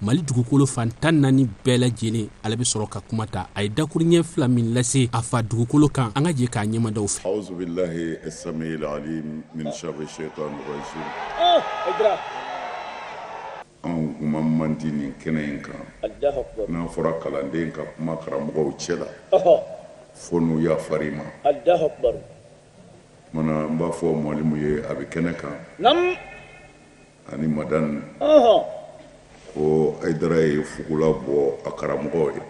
mali dugukolo fan tan naani bɛɛ lajɛlen ale bɛ sɔrɔ ka kuma ta a ye dakuruɲɛ fila min lase a fa dugukolo kan an ka jɛ k'a ɲɛmadaw fɛ awuzu bilahi samiyil alim mina shayitani rajim anw kuma man di nin kɛnɛ in kan n'a fɔra kalanden ka kuma karamɔgɔw cɛ la fo n'u yafar'i ma mana n b'a fɔ malimu ye a bɛ kɛnɛ kan ani madani ko ayidara ye fugula bɔ a karamɔgɔw ye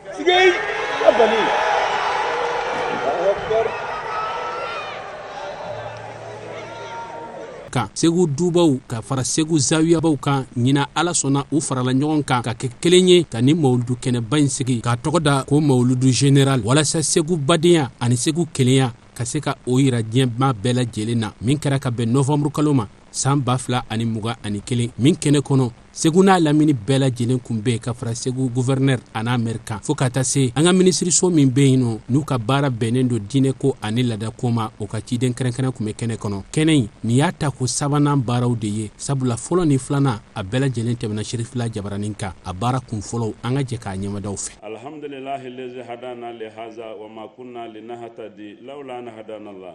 kan segu dubaw ka fara segu zawiyabaw kan ɲinan ala sɔnna u farala ɲɔgɔn kan ka kɛ kelen ye ka nin mawuludu kɛnɛba in sigi k'a tɔgɔ da ko mawuludu general walasa segu badenya ani segu kelenya ka se ka o yira diɲɛba bɛɛ lajɛlen na min kɛra ka bɛn novanburukalo ma san ba fila ani mugan ani kelen min kɛnɛ kɔnɔ segu n'a lamini bɛɛ lajɛlen kun bɛ ka fara segu guvɛrɛnɛr an'a mɛri kan fɔɔ ka taa se an ka minisiriso min be yen nɔ n'u ka baara bɛnnen don diinɛ ko ani lada ko ma o ka ciden kɛrɛnkɛrɛn kun be kɛnɛ kɔnɔ kɛnɛ in nin y'a tako sabanan baaraw de ye sabula fɔlɔ ni filanan a bɛɛ lajɛlen tɛmɛna sherifila jabaranin kan a baara kun fɔlɔw an ka jɛ k'a ɲɛmadaw fɛ alhamdulilahi lezi hadana lihaza wa ma kunna linahatadi laula an hadana la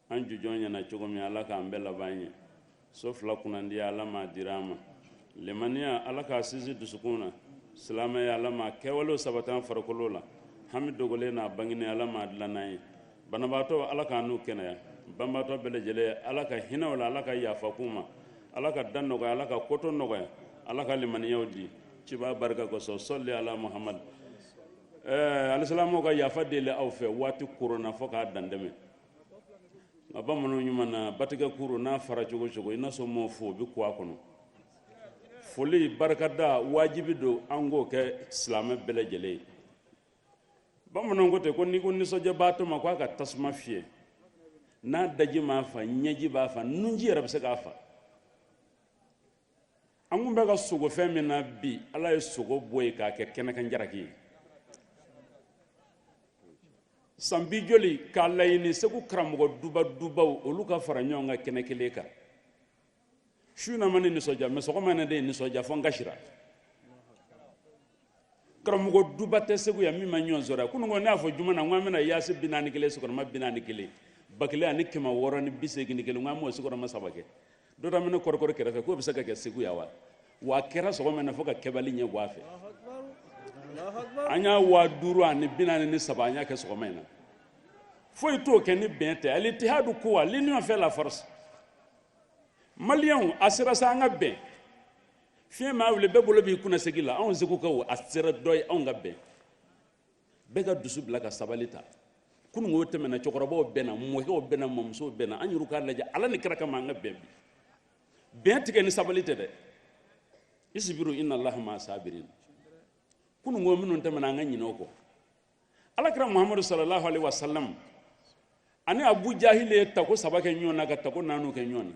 an jujɔn ɲɛna cogo min ala k'an bɛɛ laban ye so fila kunnandiya ala m'a dira an ma limaniya ala k'a sinsin dusukun na silamɛya ala m'a kɛwalew sabat'an farikolo la hami dogolen n'a bangini ala m'a dilann'an ye banabaatɔ ala k'an n'u kɛnɛya banbaatɔ bɛɛ lajɛlen ala ka hinɛ u la ala ka yafa k'u ma ala ka dan nɔgɔya ala ka ko tɔ nɔgɔya ala ka limaniyaw di cibaa barika kosɔn sɔli ala muhamadu ɛɛ eh, alisilamɛw ka yafa deli aw fɛ waati koronna fo k'a dantɛmɛ nka bamananw ɲuman na batigɛ kurun n'a fara cogo cogo i n'a sɔrɔ mɔɔ fo bɛ kun a kɔnɔ foli barikada wajibi don an k'o kɛ silamɛ bɛɛ lajɛlen ye bamananw ko ten ko n'i ko nisɔndiyabaatɔ ma ko a ka tasuma fiyɛ n'a daji m'a fa ɲɛji b'a fa nunji yɛrɛ bɛ se k'a fa an kun bɛ ka sogo fɛn min na bi ala ye sogo bɔ yen k'a kɛ kɛnɛkan jaraki ye san bi joli k'a laɲini segu karamɔgɔ duba dubaw olu ka fara ɲɔgɔn kan kɛnɛ kelen kan su na ma ne nisɔndiya mɛ sɔgɔma ne de ye nisɔndiya fo n kasira karamɔgɔ duba tɛ segu yan min ma ɲɔgɔn sɔrɔ yan kununko ne y'a fɔ juma na n ko an bɛna yaasin bi naani kelen sigiyɔrɔma bi naani kelen ba kelen ani kɛmɛ wɔɔrɔ ni bi seegin ni kelen n ko an b'o sigiyɔrɔma saba kɛ dɔ da minɛ kɔrɔkɔrɔ kɛrɛfɛ k'o bɛ se ka kɛ segu yan wa wa a kɛra sɔgɔma na fo ka kɛbali ɲɛ bɔ a fɛ an y'a waa duuru ani bi naani ni saba an y'a kɛ sɔgɔma in na foyi t'o kɛ ni bɛn tɛ ali itihadu kuwa l'union fait la force maliyɛnw a sera sa an ka bɛn fiɲɛ maa wuli bɛɛ bolo b'i kunna segi la anw segukaw a sera dɔ ye anw ka bɛn bɛɛ ka dusu bila ka sabali ta kunun o tɛmɛna cɛkɔrɔbaw bɛnna mɔkɛw bɛnna mɔmusow bɛnna an yɛrɛ k'a lajɛ ala ni kira kama an ka bɛn bi bɛn tɛ kɛ ni sabali tɛ dɛ isibiru inna allaha ma sabirin kunun ko minnu tɛmɛna an ka ɲinɛ o kɔ alakira muhammadu sallallahu alaihi wasallam ani abu jahil ye tako saba kɛ ɲɔgɔn na ka tako naani kɛ ɲɔgɔn na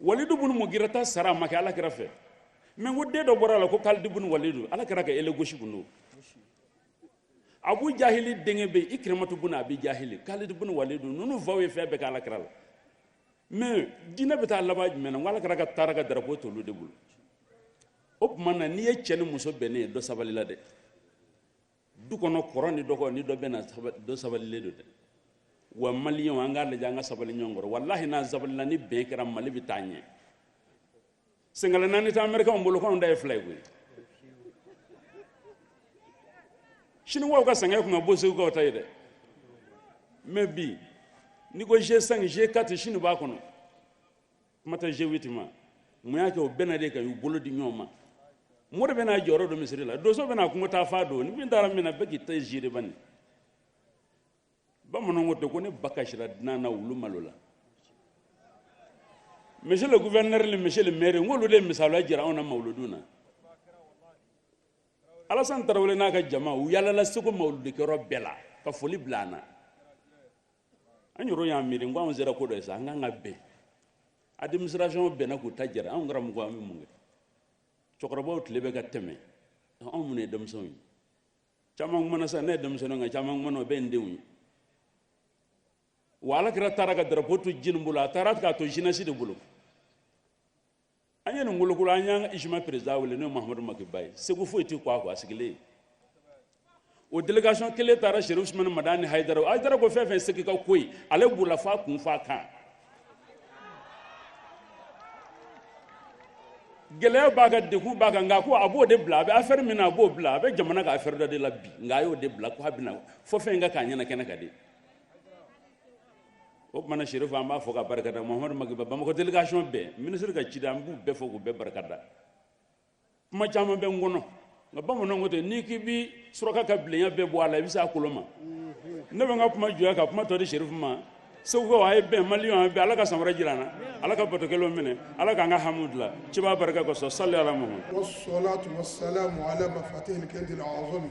walidu bunu mugira ta sara a ma kɛ alakira fɛ mɛ o den dɔ bɔra a la ko kalidi bunu walidu alakira ka ele gosi kun don abu jahili denkɛ bɛ ikirimatu bunu abi jahili kalidi bunu walidu ninnu faw ye fɛn bɛɛ kɛ alakira la mɛ diinɛ bɛ taa laban jumɛn na ko alakira taara ka darapo t'olu de bolo o tuma na n'i ye cɛ ni muso bɛnnen ye dɔ sabalila dɛ du kɔnɔ kɔrɔ ni dɔgɔ ni dɔ bɛnna dɔ sabalilen don dɛ wa maliyɛnw an k'a lajɛ an ka sabali ɲɔgɔn kɔrɔ walahi n'an sabalila ni bɛn kɛra mali bɛ taa ɲɛ senkala naani tɛ amerikanw bolo k'anw ta ye fila ye koyi siniwaw ka sɛgɛn tun ka bon segukaw ta ye dɛ mɛ bi n'i ko g5 g4 sini b'a kɔnɔ kuma tɛ g8 ma mun y'a kɛ o bɛnna de k'u bolo di ɲɔgɔn ma mori bɛna jɔyɔrɔ dɔn misiri la donso bɛna kungo taafan dɔn ni min taara min na bɛɛ k'i ta ziiri bani bamananw ko ten ko ni ba kasira dunan na wulu malola monsieur le gouverneur ni monsieur le maire n k'olu de misaliya jira anw na mawuludu na alasan tarawele n'a ka jama u yaalala segu mawuludikɛyɔrɔ bɛɛ la ka foli bila an na an yɛrɛ y'a miiri n ko anw sera ko dɔ ye sa an kan ka bɛn administration bɛnna k'u ta jɛra anw karamɔgɔw an bɛ mun kɛ cɛkɔrɔbaw tile bɛ ka tɛmɛ anw minnu ye denmisɛnw ye caman kumana sa ne ye denmisɛnninw nka caman kumana o bɛɛ ye n denw ye wa alakira taara ka darapo to jɔni bolo a taara k'a to jeunesse de bolo an ye nin wolokolo an y'an ka izima perezida wele n'o ye mahamadu maki ba ye segu foyi tɛ kɛ a kɔ a sigilen ye o delegation kelen taara serifu usumani madani hayidara o hayidara ko fɛn o fɛn segu ka ko ye ale b'o la f'a kun f'a kan gɛlɛya b'a kan degun b'a kan nka ko a b'o de bila a bɛ afɛri min na a b'o bila a bɛ jamana ka afɛri dɔ de la bi nka a y'o de bila ko a bɛ na fo fɛn in ka k'a ɲɛna kɛnɛ kan de o tuma na serifu an b'a fo ka barika da mahamadu maki ba bamakɔ delegasɔn bɛɛ minisiri ka cida an b'u bɛɛ fo k'u bɛɛ barika da kuma caman bɛ n kɔnɔ nka bamananw ko ten n'i k'i bi suraka ka bilenya bɛɛ bɔ a la i bɛ se a kolo ma ne bɛ n ka kuma jɔ yan ka kuma tɔ di serifu ma segukaw a ye bɛn maliyɛnw a bɛn ala ka san wɛrɛ jira an na ala ka batokɛlenw minɛ ala k'an ka hami dila cibaa barika kosɔn sali ala muhammad wasalaatu wasalaamu ala mafatihil kɛndil azami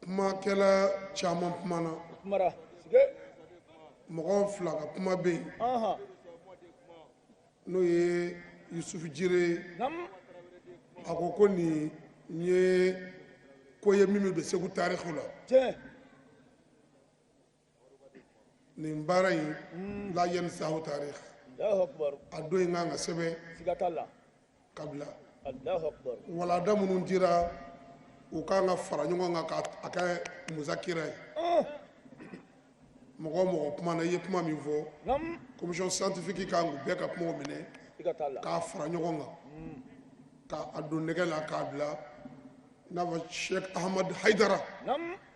kumakɛla caman kumana mɔgɔ fila ka kuma bɛ yen n'o ye yusufu jire ye a ko ko nin ye ko ye min bɛ segu tariku la nin baara in hmm. la yanni segu tariku a don in kan ka sɛbɛn ka bila walanda minnu dira u kan ka fara ɲɔgɔn kan k'a kɛ musakira ye ah. mɔgɔ mɔgɔ kumana i ye kuma min fɔ commission scientifique kan k'u bɛɛ ka kumaw minɛ k'a fara ɲɔgɔn kan hmm. k'a don nɛgɛ la k'a bila i n'a fɔ sheikh ahmad haidara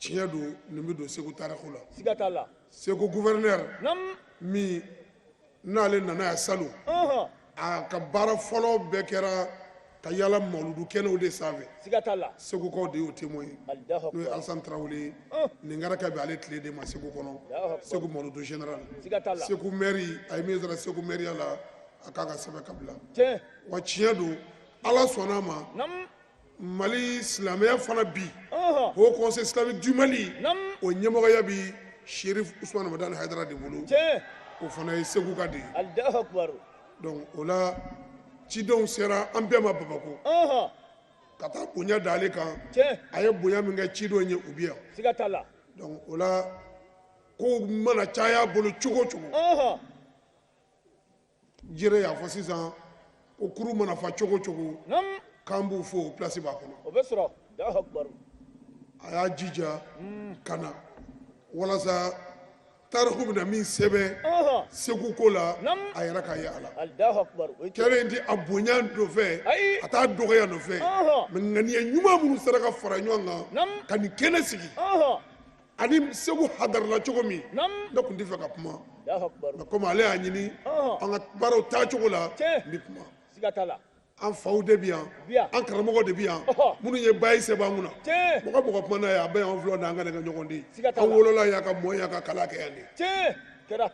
tiɲɛ don nin bɛ don segu tariku la siga t'a la segu gouverneur min n'ale nana yan salon a ka baara fɔlɔ bɛɛ kɛra ka yala mauludu kɛnɛw de sanfɛ siga t'a la segukaw de y'o témoin ye n'o ye alasan tarawele ye nin kɛra ka bɛn ale tile de ma segu kɔnɔ segu mauludu général siga t'a la segu mɛri a ye min sɔrɔ segu mɛriya la a kan ka sɛbɛn ka bila wa tiɲɛ don ala sɔnn'a ma mali silamɛya fana bi haut conseil islamique du mali o ɲɛmɔgɔya bi sherif usman madani haidara de bolo o fana ye seguka de ye donc o la cidenw sera an bɛɛ ma bamakɔ ka taa bonya da ale kan a ye bonya min kɛ cidenw ye u bi yan donc o la kow mana caya bolo cogo cogo jire y'a fɔ sisan ko kurun mana fa cogo cogo k'an b'u fo place b'a kɔnɔ o bɛ sɔrɔ a y'a jija hmm. ka na walasa tariku bɛna min sɛbɛn segu ko la a yɛrɛ ka ye a la kɛlɛ in tɛ a bonya nɔfɛ a t'a dɔgɔya nɔfɛ mais ŋaniya ɲuman minnu sera ka fara ɲɔgɔn kan ka nin kɛnɛ sigi ani segu hadarala cogo min ne tun tɛ fɛ ka kuma nka komi ale y'a ɲini an ka baaraw taa cogo la n bɛ kuma an faw de bɛ yan an karamɔgɔ de bɛ yan minnu ye bayi sɛbɛn kunna mɔgɔ mɔgɔ kumana yan a bɛ yan filɛ n'an ka ne ka ɲɔgɔn di an wolola yan ka mɔ yan ka kalan kɛ yan de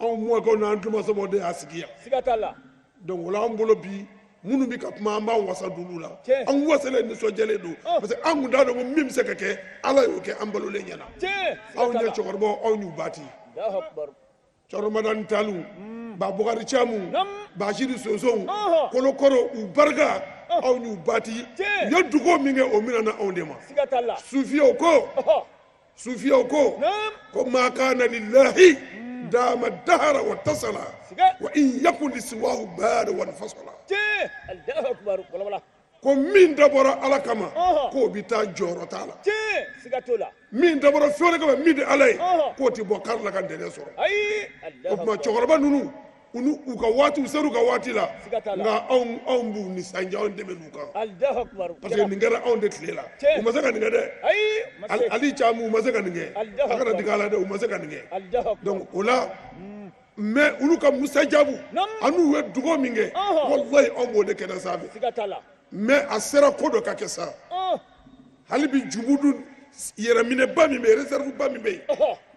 anw mɔkɛw n'an tulomasamaw de y'a sigi yan siga t'a la donc o la an bolo bi minnu bɛ ka kuma an b'an wasa d'olu la an wasalen nisɔndiyalen don oh. parce que an kun t'a dɔn ko min bɛ se ka kɛ ala y'o kɛ an balolen ɲɛna aw ɲɛ cɛkɔrɔbaw aw y'u ba ten cɛkɔrɔ madani talu hmm. ba bukari camu basiri sonson oh. kolokɔrɔ u barika oh. aw y'u ba ten u ye dugaw min kɛ o minɛna anw de ma sufiyew ko sufiyaw ko ko ma kana lillahi hmm. dama dahara wa tasala wa in yakun lisiwahu bada wan fasala ko min dabɔra ala kama k'o bɛ taa jɔyɔrɔ t'a la min dabɔra fɛn wɛrɛ kama min tɛ ala ye k'o tɛ bɔ kari la ka ntɛnɛn sɔrɔ o tuma cɛkɔrɔba ninnu unu u ka waati u ser'u ka waati la Siga t'a la. nka anw anw b'u nisɔndiya anw tɛmɛn'u kan Allahu akbar. parce que nin kɛra anw de tile la Tiɲɛ. u ma se ka nin kɛ dɛ Ayi. ma Al- se. ali camu u ma se ka nin kɛ Allahu a kana Akbar. digi a la dɛ u ma se ka nin kɛ Allahu akbar. donc o la mais olu ka musajabu Nam. an'u ye dugawu min kɛ Ɔhɔ. walayi anw b'o de kɛnɛ sanfɛ Siga t'a la. mais a sera ko dɔ ka kɛ sa Ɔn. hali bi jubudu yɛrɛminɛba min bɛ yen reserveba min bɛ yen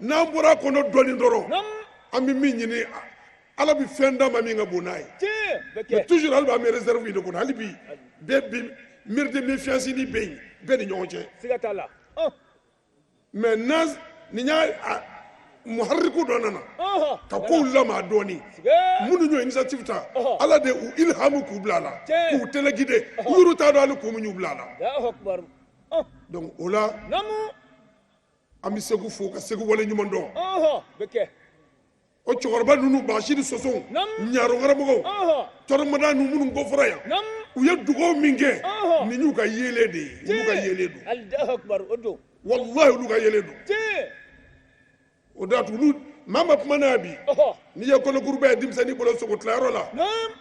n'an bɔra a kɔnɔ dɔɔnin dɔrɔn an bɛ min ɲini ala bɛ fɛn d'an ma min ka bon n'a ye mais toujours hali b'an bɛ reserve de kɔnɔ hali bi bɛɛ bi miiri de méfiance ni bɛ yen bɛɛ ni ɲɔgɔn cɛ siga t'a la maintenant nin y'a muhariku dɔ nana ka kow lamaga dɔɔni minnu y'o initiative ta ala de u ilhamu k'u bila a la k'u téléguider u yɛrɛ t'a dɔn hali kun min y'u bila a la donc o la an bɛ segu fo ka segu wale ɲuman dɔn o cɛkɔrɔba ninnu basiri sosow ɲarokaramɔgɔw cɛkɔrɔ madaniw minnu ko fɔra yan u ye dugaw min kɛ nin y'u ka yeelen de ye olu ka yeelen don walahi olu ka yeelen don o da olu maa ma kuma n'a bi n'i ye kolokuruba ye denmisɛnnin bolo sogotilayɔrɔ la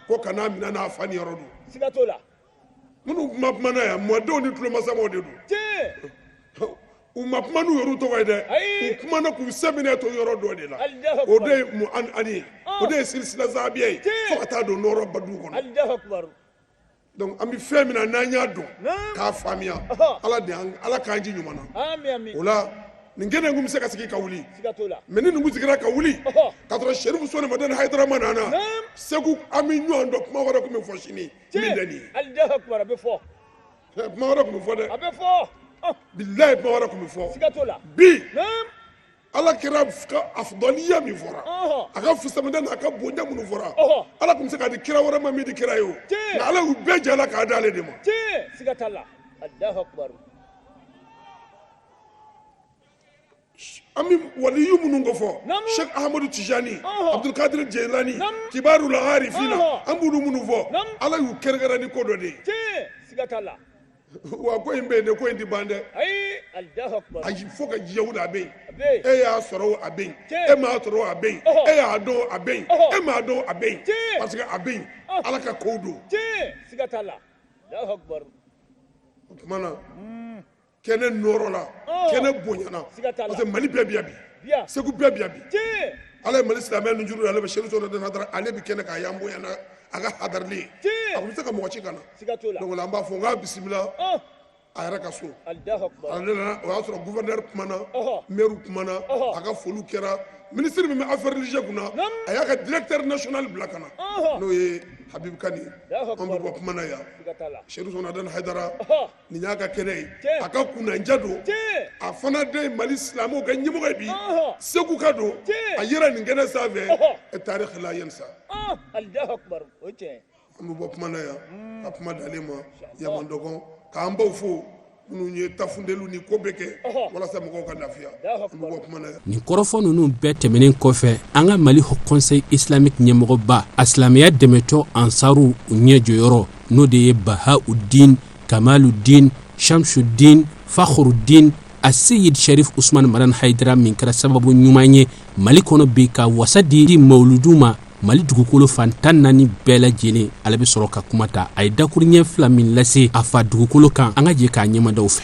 ko kan'a minɛ a na a fa niyɔrɔ don minnu kuma kumana yan mɔdenw ni tulomasamaw de don tiɲɛ u ma kuma n'u yɛrɛ tɔgɔ ye dɛ u kumana k'u sɛmɛnen to yɔrɔ dɔ de la o de ye mu'an'ani ye o de ye silisila zahabiya ye fo ka taa don nɔɔrɔ badu kɔnɔ donc an bɛ fɛn min na n'an y'a dɔn k'a faamuya ala de ala k'an ji ɲuman na o la nin kɛnɛ kun bɛ se ka sigi ka wuli mais ni nin kun sigira ka wuli ka sɔrɔ sɛrifu usumani madani hayidara ma na segu an bɛ ɲɔgɔn dɔn kuma wɛrɛ tun bɛ fɔ sini min bɛ nin ye hali dɛsɛ kuma a bɛ fɔ kuma wɛrɛ tun bɛ fɔ dɛ a bɛ fɔ bilayi kuma wɛrɛ tun bɛ fɔ siga t'o la bi ala kira ka afdaliya min fɔra a ka fisamantiya n'a ka bonya minnu fɔra ala tun bɛ se k'a di kira wɛrɛ ma min tɛ kira ye o nka ala y'u bɛɛ jɛ a la k'a d'ale de ma siga t'a la alahu akubaru an bɛ waliyu minnu ko fɔ sheikh ahmadu tijani abdulkadir jeilani kibarul arifina an b'olu minnu fɔ ala y'u kɛrɛnkɛrɛn ni ko dɔ de ye wa ko in bɛ yen de ko in tɛ ban dɛ ayi fo ka diɲɛ wuli a bɛ yen e y'a sɔrɔ a bɛ yen e m'a sɔrɔ a bɛ yen e y'a dɔn a bɛ yen e m'a dɔn a bɛ yen parce que a bɛ yen ala ka kow don o tuma na kɛnɛ nɔrɔla oh. kɛnɛ bonyana parce que mali bɛɛ bɛ yan bi segu bɛɛ bɛ yan bi ala ye mali silamɛ nunjuru d'ale ma sherif usumani madani haidara ale bɛ kɛnɛ kan yan bonyana a ka hadarili ye a tun bɛ se ka mɔgɔ ci ka na donc an b'a fo an k'a bisimila oh. a yɛrɛ ka so ale nana o y'a sɔrɔ gouverneur kumana maire kumana a ka foliw kɛra minisiri min bɛ affaire religieux kunna a y'a ka directeur national bila ka na n'o ye habibu kane ye an bɛ bɔ kuma na yan sherif usumani madani haidara nin y'a ka kɛnɛ ye a ka kunnandiya don a fana de mali silamɛw ka ɲɛmɔgɔ ye bi segu ka don a yɛrɛ nin kɛnɛ sanfɛ tariki la yen sa an bɛ bɔ kuma na yan ka kuma d'ale ma yama dɔgɔ k'an baw fo minnu ye ta funteni ni ko bɛɛ kɛ walasa mɔgɔw ka lafiya an bɛ bɔ kuma na yan nin kɔrɔfɔ ninnu bɛɛ tɛmɛnen kɔfɛ an ka mali haut conseil islamique ɲɛmɔgɔba a silamɛya dɛmɛtɔn ansaru ɲɛ jɔyɔrɔ n'o de ye bahaudin kamaludin shamsudin fakhrudin aseyid sherif usumani madani haidara min kɛra sababu ɲuman ye mali kɔnɔ bi ka wasa di di mawuludu ma mali dugukolo fan tan naani bɛɛ lajɛlen ale bɛ sɔrɔ ka kuma ta a ye dakuruɲɛ fila min lase a fa dugukolo kan an ka jɛ k'a ɲɛmadaw fɛ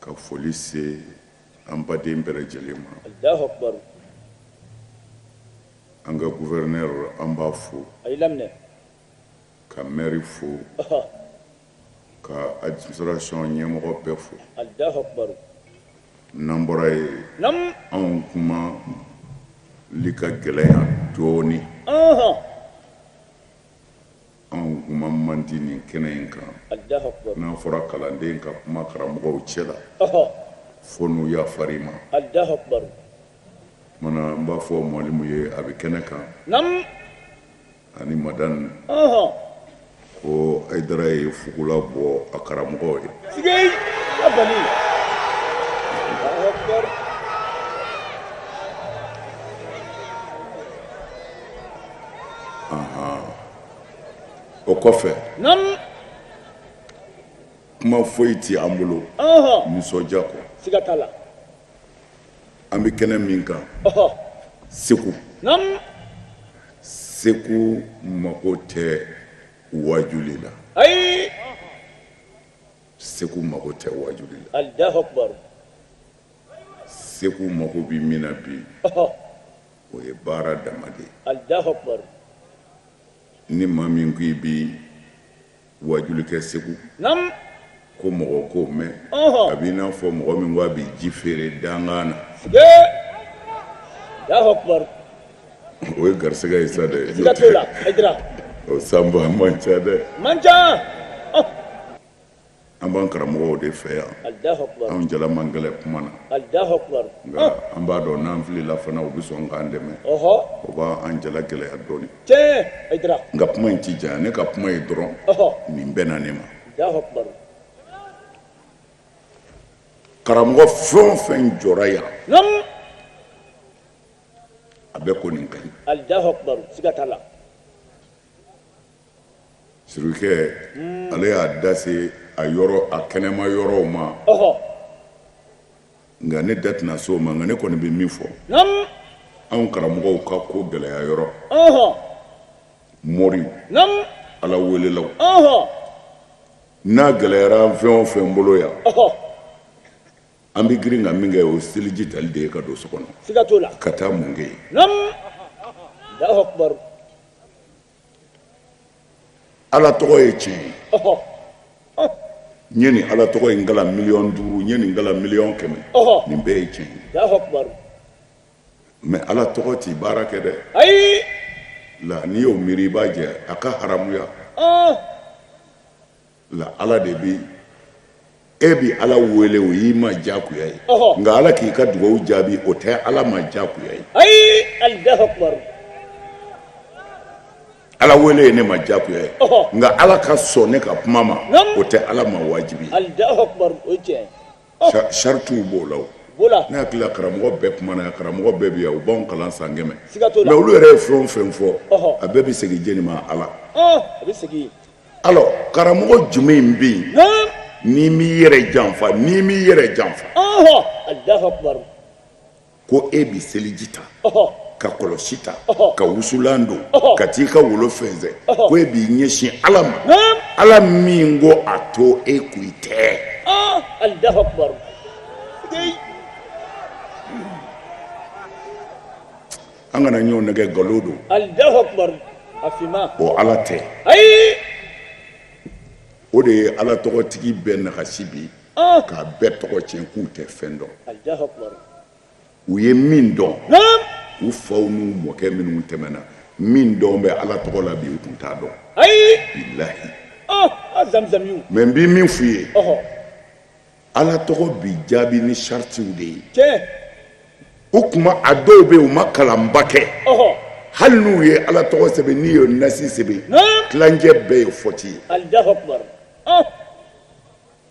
ka foli se an baden bɛɛ lajɛlen ma an ka gouverneur an b'a fo ka mɛri fo ka administration ɲɛmɔgɔ bɛɛ fo n'an bɔra yen anw kumali ka gɛlɛn yan dɔɔnin Anw kuma man di nin kɛnɛ in kan n'a fɔra kalanden ka kuma karamɔgɔw cɛ la fo n'u yafara i ma n b'a fɔ malimu ye a bɛ kɛnɛ kan ani madani ko haidara ye fugula bɔ a karamɔgɔ ye o kɔfɛ kuma foyi tɛ an bolo nisɔndiya kɔ an bɛ kɛnɛ min kan segu segu mako tɛ waju la segu mako tɛ waju la segu mako bɛ min na bi o ye baara dama de ye Allahu Akbar ni maa min ko i bɛ waajuli kɛ Segu Naamu ko mɔgɔ k'o mɛn ɔhɔ a b'i n'a fɔ mɔgɔ min ko a bɛ ji feere dankan na sigee Allahu Akbar o ye garisɛgɛ ye sa dɛ siga t'o la Hayidara o sanbaa man ca dɛ man ca ɔh An b'an karamɔgɔ de fɛ yan an ja man gɛlɛn kuma na nka an b'a dɔn n'an filila fana u bɛ sɔn k'an dɛmɛ o b'an ja lagɛlɛya dɔɔnin nka kuma in ci diya ne ka kuma ye dɔrɔn nin bɛnna ne ma karamɔgɔ fɛn fɛn jɔra yan a bɛɛ ko nin ka Sirikɛ ale y'a da se a yɔrɔ a kɛnɛma yɔrɔw ma nka ne da tɛna s'o ma nka ne kɔni bɛ min fɔ anw karamɔgɔw ka ko gɛlɛya yɔrɔ mori ala welela n'a gɛlɛyara fɛn o fɛn bolo yan an bɛ girin ka min kɛ o seliji tali de ye ka don so kɔnɔ ka taa mun kɛ yen ala tɔgɔ ye tiɲɛ ye n ye nin ala tɔgɔ in kalan miliyɔn duuru n ye nin kalan miliyɔn kɛmɛ nin bɛɛ ye tiɲɛ ye mɛ ala tɔgɔ t'i baara kɛ dɛ la n'i y'o miiri i b'a jɛ a ka haramuya nka ala de bɛ yen e bɛ ala wele o y'i ma diyagoya ye nka ala k'i ka dugawu jaabi o tɛ ala ma diyagoya ye ala wele ye ne ma diyagoya ye nka ala ka sɔn ne ka kuma ma o tɛ ala ma wajibi saratiw b'o la ne hakili karamɔgɔ bɛɛ kumana karamɔgɔ bɛɛ bi yan u b'an kalan san kɛmɛ nka olu yɛrɛ ye fɛn fɛn fɔ a bɛɛ bɛ segin jɔni ma ala alɔ karamɔgɔ jumɛn bɛ yen n'i m'i yɛrɛ janfa n'i m'i yɛrɛ janfa ko e bɛ seliji ta ka kɔlɔsi ta ka wusulan don ka t'i ka wolo fɛnsɛn ko e b'i ɲɛsin ala ma ala min ko a to e kun i tɛ an kana ɲɔgɔn nɛgɛ nkalon don alahu akubar a finma o ala tɛ ayi o de ye ala tɔgɔtigi bɛɛ nagasi bi ah. k'a bɛɛ tɔgɔ tiɲɛ k'u tɛ fɛn dɔn alahu akubar u ye min dɔn u faw n'u mɔkɛ minnu tɛmɛna min dɔn bɛ ala tɔgɔ la bi u tun t'a dɔn ayi bilahi ah, ah, mɛ n bɛ min f'u ye ala tɔgɔ bi jaabi ni saritiw de ye tiɲɛ o tuma a dɔw bɛ yen u ma kalanba kɛ ɔhɔ hali n'u ye ala tɔgɔ sɛbɛn n'i ye nasi sɛbɛn naam tilancɛ bɛɛ ye fɔti ye alahu akubar ɔh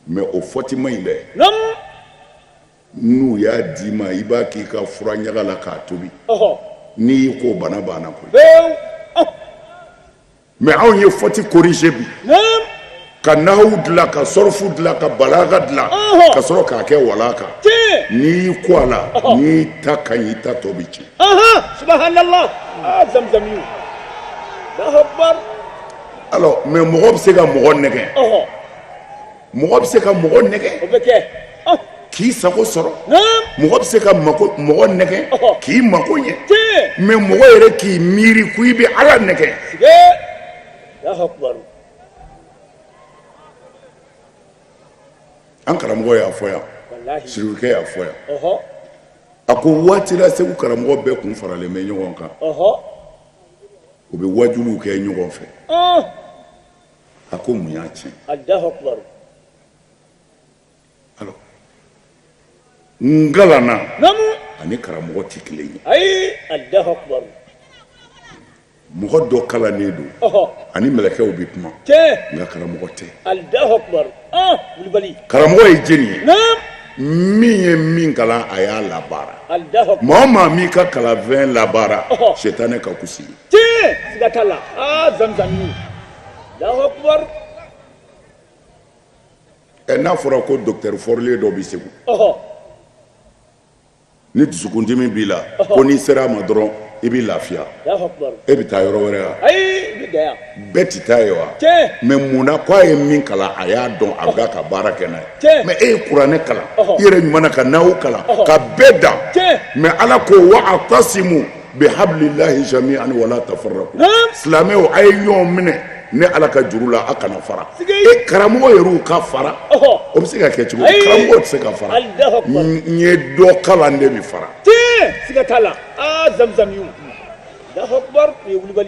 mɛ o fɔti ma ɲi dɛ naam n'u y'a d'i ma i b'a k'i ka fura ɲaga la k'a tobi ɔhɔ n'i y'i ko bana banna koyi pewu ɔh Mɛ anw ye fɔti korije bi ka nahawu dilan ka sɔrɔfu dilan ka balaga dilan ka sɔrɔ k'a kɛ wala kan n'i y'i ko a la n ta ka i ta to bɛ ci mɛ mɔgɔ bɛ se ka mɔgɔ nɛgɛ mɔgɔ bɛ se ka mɔgɔ nɛgɛ o bɛ kɛ k'i sago sɔrɔ mɔgɔ bɛ se ka mɔgɔ nɛgɛ k'i mako ɲɛ mɛ mɔgɔ yɛrɛ k'i miiri ko i bɛ ala nɛgɛ an karamɔgɔ y'a fɔ yan sirikɛ y'a fɔ yan a ko waati la segu karamɔgɔ bɛɛ kun faralen bɛ ɲɔgɔn kan u bɛ wajuli kɛ ɲɔgɔn fɛ a ko mun y'a tiɲɛ alors n kalanna ani karamɔgɔ tɛ kelen ye mɔgɔ dɔ kalannen don ani mɛlɛkɛw bɛ kuma nka karamɔgɔ tɛ karamɔgɔ ye jɛni ye min ye min kalan a y'a labaara maa o maa m'i ka kalanfɛn labaara sitanɛ ka fus'i ti siga t'a la aa zamzamini alahu akubar ɛ n'a fɔra ko dɔkitɛri fɔrilen dɔ bɛ segu ɔhɔ ni dusukundimi b'i la ko n'i sera a ma dɔrɔn i bɛ lafiya alahu akubar e bɛ taa yɔrɔ wɛrɛ wa ayi i bɛ dan yan bɛɛ tɛ taa yen wa tiɲɛ mɛ mun na k'a ye min kalan a y'a dɔn a bɛ ka baara kɛ n'a ye Tiɲɛ. mɛ e ye kuranɛ kalan Ɔhɔ. i yɛrɛ ɲuman na ka nahawu kalan Ɔhɔ. ka bɛɛ dan Tiɲɛ. mɛ ala ko wa atasimu bi habililahi jamiani wala ta fara silamɛw a ye ɲɔgɔn minɛ ne ala ka juru la a kana fara e karamɔgɔ yɛrɛ ka fara o bɛ se ka kɛ cogo karamɔgɔ tɛ se ka fara n ye dɔ kalan de bɛ fara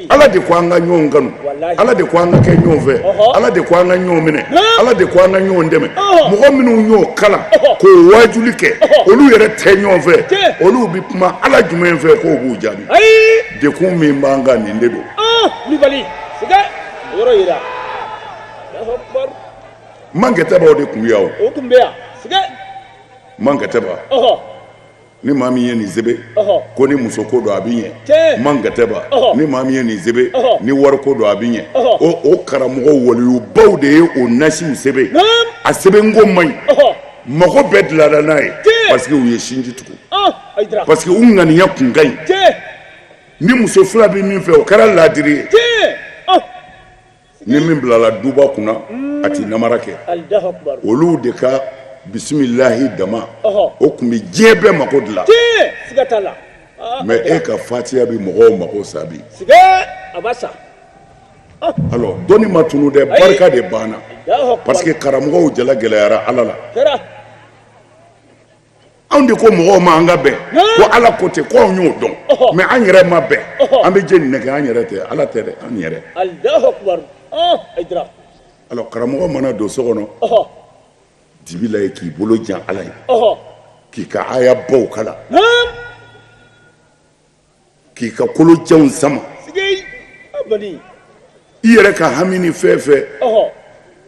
ala de ko an ka ɲɔgɔn kanu ala de ko an ka kɛ ɲɔgɔn fɛ ala de ko an ka ɲɔgɔn minɛ ala de ko an ka ɲɔgɔn dɛmɛ mɔgɔ minnu y'o kalan k'o wajuli kɛ olu yɛrɛ tɛ ɲɔgɔn fɛ olu kuma ala jumɛn fɛ k'o b'u jaabi degun min b'an kan nin de don kulubali sigɛ yɔrɔ yira mankɛtɛbaw de tun bɛ yan o tun bɛ yan sigɛ mankɛtɛba ni maa min ye nin sɛbɛn ko ni musoko don a bɛ ɲɛ mankɛtɛba ni maa min ye nin sɛbɛn ni wariko don a bɛ ɲɛ o o karamɔgɔ waliyubaw de ye o nasiw sɛbɛn a sɛbɛnko man ɲi mago bɛɛ dilara n'a ye parce que u ye sinji tugu oh, parce que u ŋaniya kun ka ɲi ni muso fila bɛ min fɛ o kɛra laadiri ye oh. ni min bilala duba kunna hmm. a tɛ namara kɛ olu de ka bisimilahi dama o tun bɛ diɲɛ bɛɛ mago dilan ah, mais e ka fatiya bɛ mɔgɔw mago sa bi dɔnni ma tunu dɛ barika de banna parce que karamɔgɔw jala gɛlɛyara Ala la anw de ko mɔgɔw ma an ka bɛn ko Ala ko ten ko anw y'o dɔn mais an yɛrɛ ma bɛn an bɛ jɛni nɛgɛn an yɛrɛ tɛ Ala tɛ dɛ an yɛrɛ alors karamɔgɔ mana don so kɔnɔ dibi la ye k'i bolo jan Ala ye k'i ka aya baw kalan k'i ka kolojanw sama i yɛrɛ ka hami ni fɛn fɛ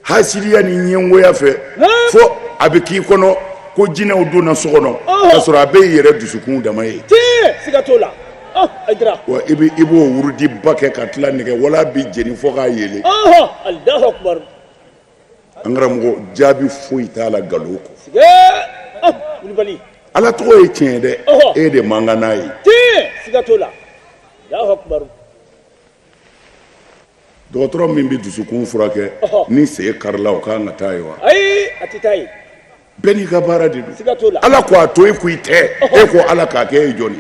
hasidiya ni ɲɛngoya fɛ fo a bɛ k'i kɔnɔ ko jinɛw donna so kɔnɔ k'a sɔrɔ a bɛ i yɛrɛ dusukun dama ye wa i bɛ i b'o wurudi ba kɛ ka tila nɛgɛ wala bɛ jeni fɔ k'a ye an karamɔgɔ jaabi foyi t'a la nkalon kɔ ala tɔgɔ ye tiɲɛ dɛ e de man kan n'a ye dɔgɔtɔrɔ min bɛ dusukun furakɛ ni sen karila o ka kan ka taa yen wa bɛɛ n'i ka baara de don ala ko a to e ko i tɛ e ko ala k'a kɛ e jɔn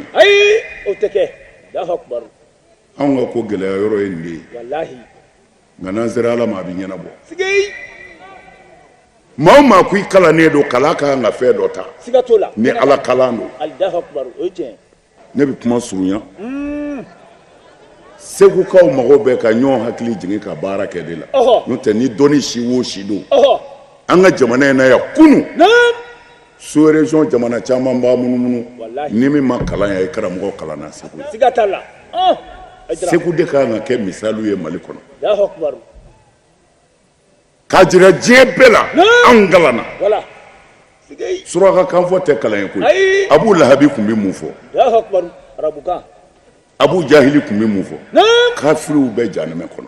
anw ka ko gɛlɛya yɔrɔ ye nin de ye nka n'an sera ala ma a bɛ ɲɛnabɔ maa maa ko i kalannen don k'ala ka kan ka fɛn dɔ ta ni ala kalan don ne bɛ kuma surunya hmm. segukaw mago bɛ ka ɲɔgɔn hakili jigin ka baara kɛ de la n'o tɛ ni dɔnni si wo si don an ka jamana in na yan kunun sous-région jamana caman b'a munumunu ni min ma kalan yan i karamɔgɔ kalanna segu segu de ka kan ka kɛ misali ye mali kɔnɔ ka jira diɲɛ bɛɛ la anw kalanna surakakan fɔ tɛ kalan ye ko abu lahabi tun bɛ mun fɔ abu jahili tun bɛ mun fɔ kafiriw bɛɛ jahanama kɔnɔ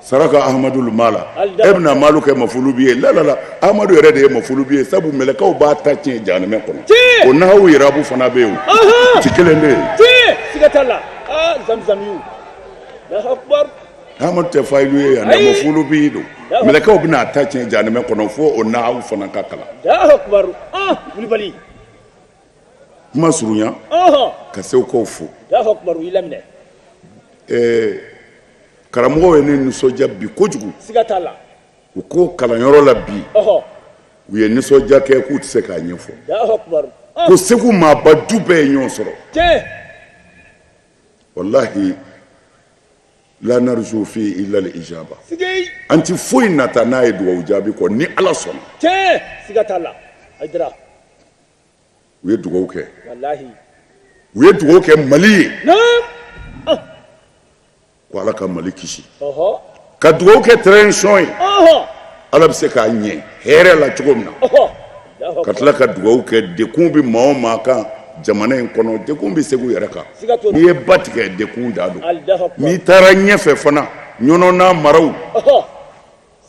saraka amadu mala e bɛna malu kɛ mafulu bi ye lalala amadu yɛrɛ de ye mafulu bi ye sabu mɛlɛkɛw b'a ta tiɲɛ jahanama kɔnɔ o nahawu yirabu fana bɛ yen ci kelen bɛ amadu tɛ fayilu ye yan mafulu bi don mɛlɛkɛw bɛna a ta tiɲɛ jahanama kɔnɔ fo o nahawu fana ka kalan kulubali kuma surunya ka segukaw fo karamɔgɔ ye ne nisɔndiya bi kojugu u ko kalanyɔrɔ la bi u ye nisɔndiya kɛ k'u tɛ se k'a ɲɛfɔ ko segu maaba bɛɛ ye ɲɔgɔn sɔrɔ walahi la narju fi illa lijaba an tɛ foyi nata n'a ye dugawu jaabi kɔ ni ala sɔnna u ye dugawu kɛ u ye dugawu kɛ mali ye ah. ko ala ka mali kisi ka dugawu kɛ transition ye ala bɛ se k'a ɲɛ hɛrɛ la cogo min na ka tila ka dugawu kɛ degun bɛ maa o maa kan jamana in kɔnɔ degun bɛ segu yɛrɛ kan n'i ye ba tigɛ degun da don n'i taara ɲɛfɛ fana ɲɔnɔ n'a maraw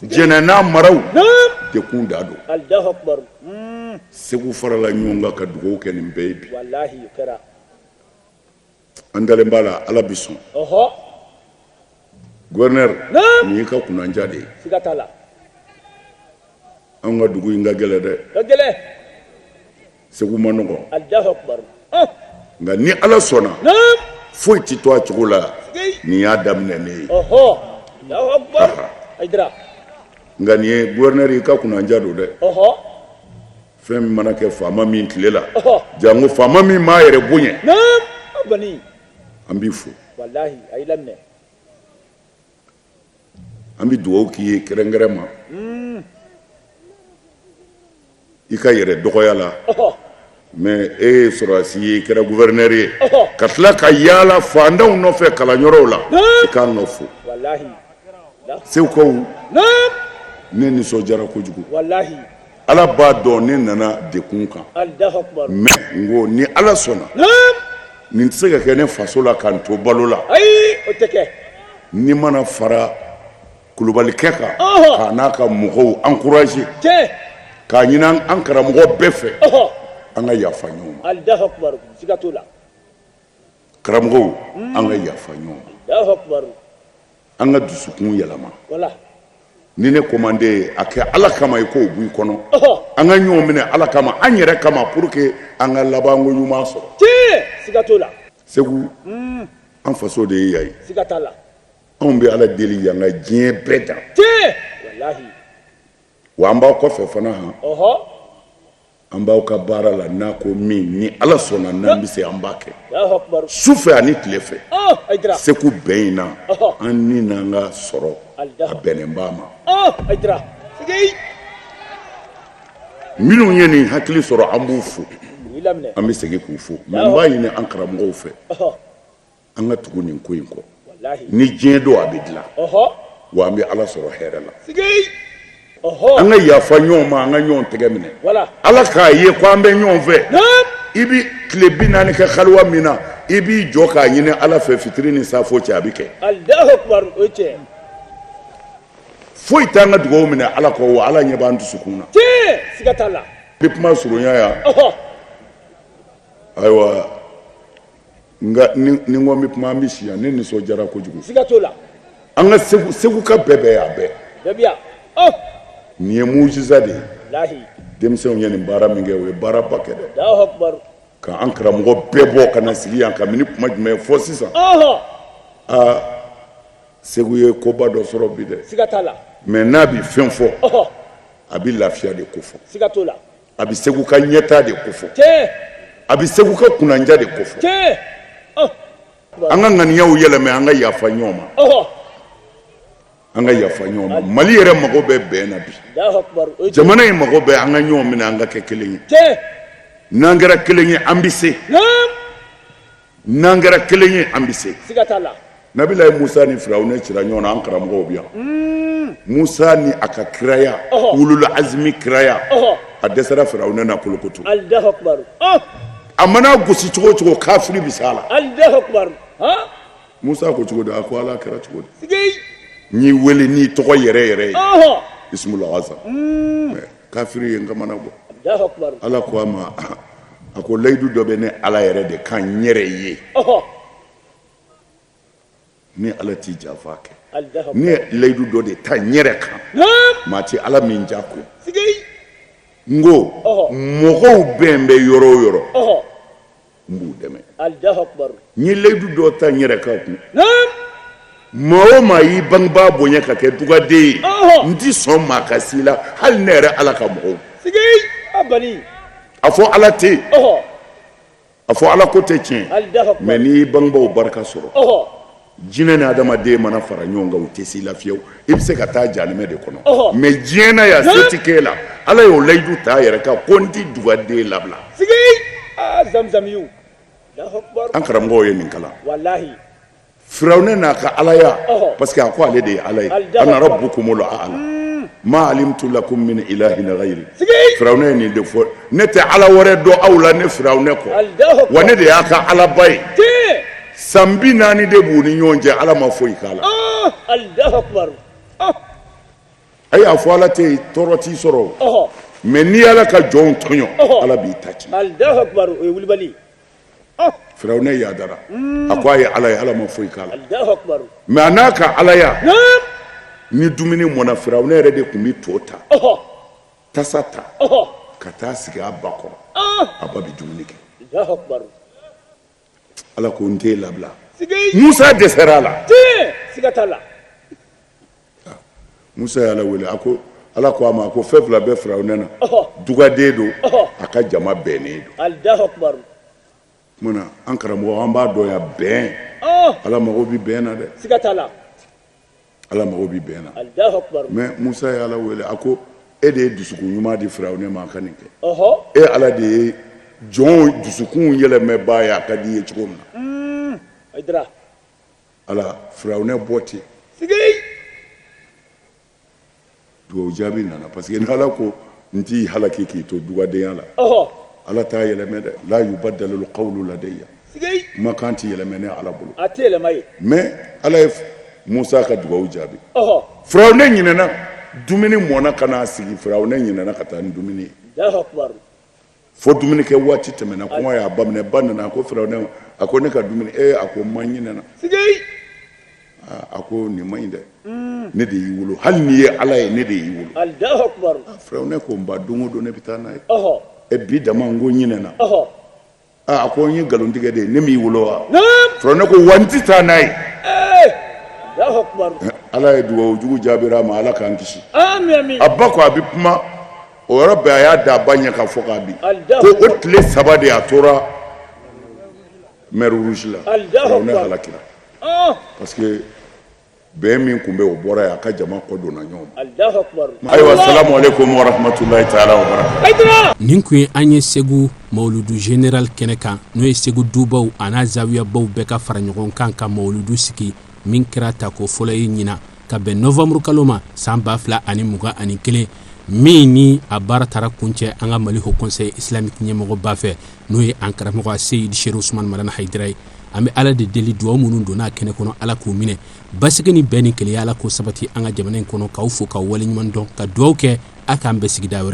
Jɛnɛ n'a maraw degun da don segu farala ɲɔgɔn kan ka dugawu kɛ nin bɛɛ ye bi an dalen b'a la ala bɛ sɔn gouverneur nin y'i ka kunnandiya de ye an ka dugu in ka gɛlɛn dɛ segu ma nɔgɔ nka ni ala sɔnna foyi tɛ to a cogo la nin y'a daminɛ de ye nka nin ye gouverneur i ka kunnandiya don dɛ fɛn min mana kɛ faama min tile la janko faama min m'a yɛrɛ bonya an b'i fo an bɛ dugawu k'i ye kɛrɛnkɛrɛn ma i ka yɛrɛ dɔgɔya la mɛ e ye sɔrɔdasi ye i kɛra gouverneur ye ka tila ka yaala faantanw nɔfɛ kalanyɔrɔw la i ka n'u fo segukaw ne nisɔndiyara kojugu Ala b'a dɔn ne nana degun kan mɛ n ko ni ala sɔnna nin tɛ se ka kɛ ne faso la ka n to balo la ni n ma na fara kulubalikɛ kan ka n'a ka mɔgɔw encourager k'a ɲini an karamɔgɔ bɛɛ fɛ an ka yafa ɲɔgɔn ma karamɔgɔw an ka yafa ɲɔgɔn an ka dusukun yɛlɛma ni ne ko man di i ye a kɛ ala kama i k'o b'i kɔnɔ an ka ɲɔgɔn minɛ ala kama an yɛrɛ kama pour que an ka labanko ɲuman sɔrɔ segu hmm. an faso de ye yan ye anw bɛ ala deli yan ka diɲɛ bɛɛ dan wa an b'aw kɔfɛ fana han An b'aw ka baara la n'aw ko min ni ala sɔnna n'an bɛ se an b'a kɛ su fɛ ani tile fɛ segu bɛɛ ɲɛ na an ni an ka sɔrɔ a bɛnba maa minnu ye nin hakili sɔrɔ an b'u fo an bɛ segin k'u fo nka an b'a ɲini an karamɔgɔw fɛ an ka tugu nin ko in kɔ ni diɲɛ don a bɛ dilan wa an bɛ ala sɔrɔ hɛrɛ la an ka yafa ɲɔgɔn ma an ka ɲɔgɔn tɛgɛ minɛ ala k'a ye ko an bɛ ɲɔgɔn fɛ i bɛ tile bi naani kɛ kaliwa min na i b'i jɔ k'a ɲini ala fɛ fitiri ni safo cɛ a bɛ kɛ foyi t'an ka dugaw minɛ ala kɔ wa ala ɲɛ b'an dusukun na n bɛ kuma surunya yan ayiwa Nka ni n ko n bɛ kuma an bɛ si yan ne nisɔn diyara kojugu ska to la an ka segukaw bɛɛ bɛ yan bɛɛ nin ye musa de ye denmisɛnw ye nin baara min kɛ u ye baaraba kɛ dɛ k'an karamɔgɔw bɛɛ bɔ ka na sigi yan nka n bɛna kuma jumɛn fɔ sisan aa segu ye koba dɔ sɔrɔ bi dɛ la mais n'a bɛ fɛn fɔ a bɛ lafiya de ko fɔ a bɛ segu ka ɲɛta de ko fɔ a bɛ segu ka kunnandiya de ko fɔ an ka ŋaniyaw yɛlɛmɛ an ka yafa ɲɔgɔn ma an ka yafa ɲɔgɔn ma mali yɛrɛ mago bɛ bɛn na bi jamana in mago bɛ an ka ɲɔgɔn minɛ an ka kɛ kelen ye n'an kɛra kelen ye an bɛ se n'an kɛra kelen ye an bɛ se nabilayi musa ni firawuna cira ɲɔgɔn na an karamɔgɔw bɛ yan mm. musa ni a ka kiraya wulul azmi kiraya a dɛsɛra firawuna na kolokoto oh! a man'a gosi cogo cogo kafiri bɛ se a la musa ko cogo di a ko ala a kɛra cogo di n y'i wele n'i tɔgɔ yɛrɛ yɛrɛ ye bisimilasa Kafiri ye n kamana gan. Alahu akibaru. Ala ko a ma, a ko layidu dɔ bɛ ne Ala yɛrɛ de kan n yɛrɛ ye. Ɔhɔ! Ne Ala tɛ janfa kɛ. Alahu akibaru. Ne ye layidu dɔ de ta n yɛrɛ kan. Naamu! Maa tɛ Ala min ja ko. Sikei! N ko. Ɔhɔ! Mɔgɔw bɛn bɛ yɔrɔ o yɔrɔ. Ɔhɔ! n b'u dɛmɛ n ye layidu dɔ ta n yɛrɛ kan maa o maa y'i bangebaa bonya ka kɛ dugaden ye n tɛ sɔn maa ka se i la hali ne yɛrɛ ala ka mɔgɔw a fɔ ala tɛ yen a fɔ ala ko tɛ tiɲɛ mais n'i y'i bangebaw barika sɔrɔ jinɛ ni adamaden mana fara ɲɔgɔn kan u tɛ s'i la fiyewu i bɛ se ka taa jahanɛmɛ de kɔnɔ Ɔhɔ. mais diɲɛ na yan se tɛ k'e la ala y'o layidu ta a yɛrɛ kan ko n tɛ dugaden labila sigi aa zamzamiyu Allahu akbar an karamɔgɔw ye nin kalan walahi firawuna n'a ka alaya Ɔhɔ. parce que a ko ale de ye ala ye Allahu ana akbar. rabbukumul a'la ma alimtu lakum min ilahin ghayri sigi firawuna ye nin de fɔ ne tɛ ala wɛrɛ dɔn aw la ne firawuna kɔ Allahu akbar. wa ne de y'a ka alaba ye tiɲɛ San bi naani de b'u ni ɲɔgɔn cɛ ala ma foyi k'a la a y'a fɔ ala tɛ tɔɔrɔ t'i sɔrɔ mais n'i ala ka jɔn tɔɲɔ ala b'i ta ci firawuna yadara a ko a ye ala ye ala ma foyi k'a la mais a n'a ka alaya ni dumuni mɔna firawuna yɛrɛ de tun bɛ to ta tasa ta ka taa sigi a ba kɔrɔ a ba bɛ dumuni kɛ ala ko n tɛ labila musa dɛsɛra a la siga t'a la musa y'ala wele a ko ala ko a ma ko fɛn fila bɛ firawuna na dugaden don a ka jama bɛnnen don munna an karamɔgɔ an b'a dɔn yan bɛn ala mago bɛ bɛn na dɛ siga t'a la ala mago bɛ bɛn na mais musa ye ala wele a ko e de ye dusukun ɲuman di firawuna ma a ka nin kɛ e ala de ye jɔn dusukun yɛlɛmɛbaa ye a ka di i ye cogo min na mm, ala firawuna bɔ ten dugawu jaabi nana parce que n'ala ko n t'i halaki k'i to dugadenya la ala t'a yɛlɛmɛ dɛ la yubaddalul qawlu ladayya kumakan tɛ yɛlɛmɛ ne ala bolo a tɛ yɛlɛma ye mais ala ye musa ka dugawu jaabi firawuna ɲinɛna dumuni mɔna ka n'a sigi firawuna ɲinɛna ka taa ni dumuni ye fo dumuni kɛ waati tɛmɛna kɔngɔ y'a ba minɛ ba nana a ko firawuna a ko ne ka dumuni ee a ko ma ɲinɛna a ko nin ma ɲi dɛ mm. ne de y'i wolo hali n'i ye ala ye ne de y'i wolo firawuna ko n ba don o don ne bɛ taa n'a ye e bi dama n tun ɲinɛna a ko i ye nkalon tigɛ de ye ne m'i wolo wa firawuna ko wa n tɛ taa n'a ye ala ye dugawu jugu jaabira a ma ala k'an kisi a ba ko a bɛ kuma o yɔrɔ bɛɛ a y'a da a ba ɲɛ kan fo k'a bin ko o tile saba de a tora mer rouge la a halakira parce que bɛn min tun bɛ o bɔra yen a ka jama kɔ donna ɲɔgɔn ma ayiwa salamu alɛkum wa ramatulayi taala wa bara nin tun ye an ye segu mawuludu general kɛnɛ kan n'o ye segu dubaw an'a zawiyabaw bɛɛ ka fara ɲɔgɔn kan ka mawuludu sigi min kɛra tako fɔlɔ ye ɲinan ka bɛn nowanburu kalo ma san ba fila ani mugan ani kelen min ni a baara taara kuncɛ an ka mali haut conseil islamique ɲɛmɔgɔba fɛ n'o ye an karamɔgɔ seyidi sherifu usumani madani hayidara ye an bɛ ala de deli dugaw minnu donna a kɛnɛ kɔnɔ ala k'u minɛ basigi ni bɛn ni kelenya ala k'o sabati an ka jamana in kɔnɔ k'aw fo k'aw waleɲuman dɔn ka dugaw kɛ a k'an bɛn sigida wɛrɛ